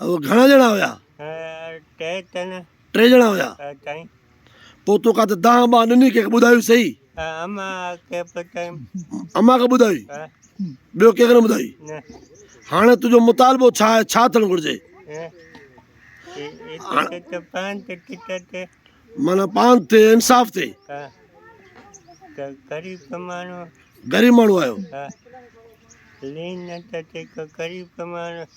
اهو گهڻا ڄڻا هيا؟ ٽي چن. ٽي ڄڻا هيا؟ چئين. پوء تو ڪا ته دانهن ٻانهن ڏني ڪنهن کي ٻڌايو سهي؟ اما کي به چيم. اما کي ٻڌائي؟ ٻيو ڪنهن کي نه ٻڌائي؟ نه. هاڻي تنهنجو مطالبو ڇا آهي؟ ڇا ٿيڻ گهرجي؟ معنيٰ پاند ٿئي انصاف ٿئي. غريب ماڻهو آهيو.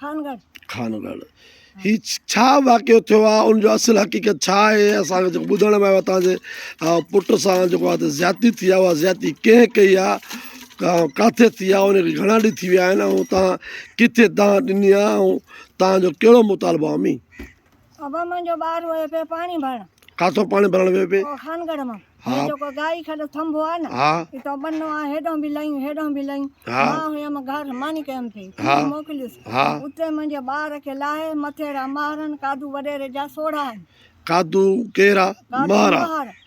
خانگڙھ. خانگڙھ ھي ڇا واقعو ٿيو آ ان جو اصل حقيقت ڇا آھي اسان کي جيڪو ٻڌڻ ۾ آيو اتان جي پٽ سان جيڪو آ زيادتي ٿي آ اھا زيادتي ڪنھن ڪئي آ ڪاٿي ٿي آ ان کي گھڻا ڏينھن ٿي ويا آھن ۽ اتان ڪٿي دانھن ڏني آ ۽ تانجو ڪھڙو مطالبو آ امين. ابا منهنجو ٻار ويو پيو پاڻي ڀرڻ ڪاٿو پاڻي ڀرڻ ويو پي او خانگڙ مان ها. هي جيڪو گائي کي جو ٿنڀو آ نه ها اتو ٻنو آ هيڏو به لهين هيڏو به لهين ها. مان هيم گهر ماني ڪيم ٿي ها. ٿي موڪليس ها. اتي منهنجي ٻار کي لاهي مٿي را مهرن ڪادو وڏيري جا سوڙها آهن ڪادو ڪير آ ڪادو مهر آ مهر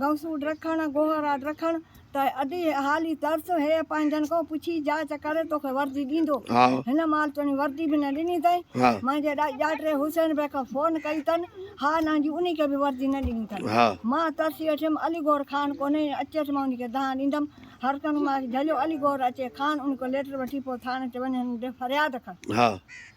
غوثوڏ رکڻ، گوهراٽ رکڻ، ته ادي حالي ترس هيء پنهنجن کان پڇي جاچ ڪري توکي وردي ڏيندو. هن مال توڻي وردي به نه ڏني اٿئي. منهنجي ڏائي ڄاٽري حسين بيگ کان فون ڪئي اٿن، ها نه جي انهي کي به وردي نه ڏني اٿن. مان ترسي ويٺيم، علي گوهر خان ڪونهي، اچي اچ مان انهي کي دانهن ڏيندم. هرڪنگ ماس جهليو، علي گوهر اچي خان انهي کان ليٽر وٺي پوء ٿاڻي تي وڃي هنن ڏي فرياد ڪن.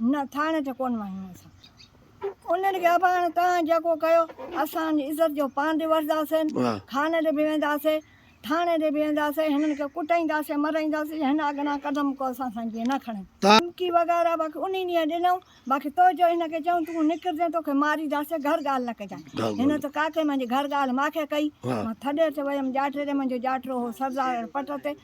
نه ٿاڻي تي ڪونه وڃي اسان انهن کي اباڻ توهان جيڪو ڪيو اسان جي عزت جو پاڻ به وٺنداسين خاني تي به وينداسين ٿاڻي تي به وينداسين هنن کي ڪٽائينداسين مرائينداسين هن اڳنا قدم ڪو اسان سان جيئن نه کڻن ڌمڪي وغيره باقي انهي ڏينهن ڏنائون باقي تو جو هن کي چيائون تون نڪرجين توکي مارينداسين گهر ڳالهه نه ڪجان هن ته ڪاڪي منهنجي گهر ڳالهه ماکي ڪئي مان ٿڏي تي ويم ڄاٽي تي منهنجو ڄاٽرو هو سردار پٽ تي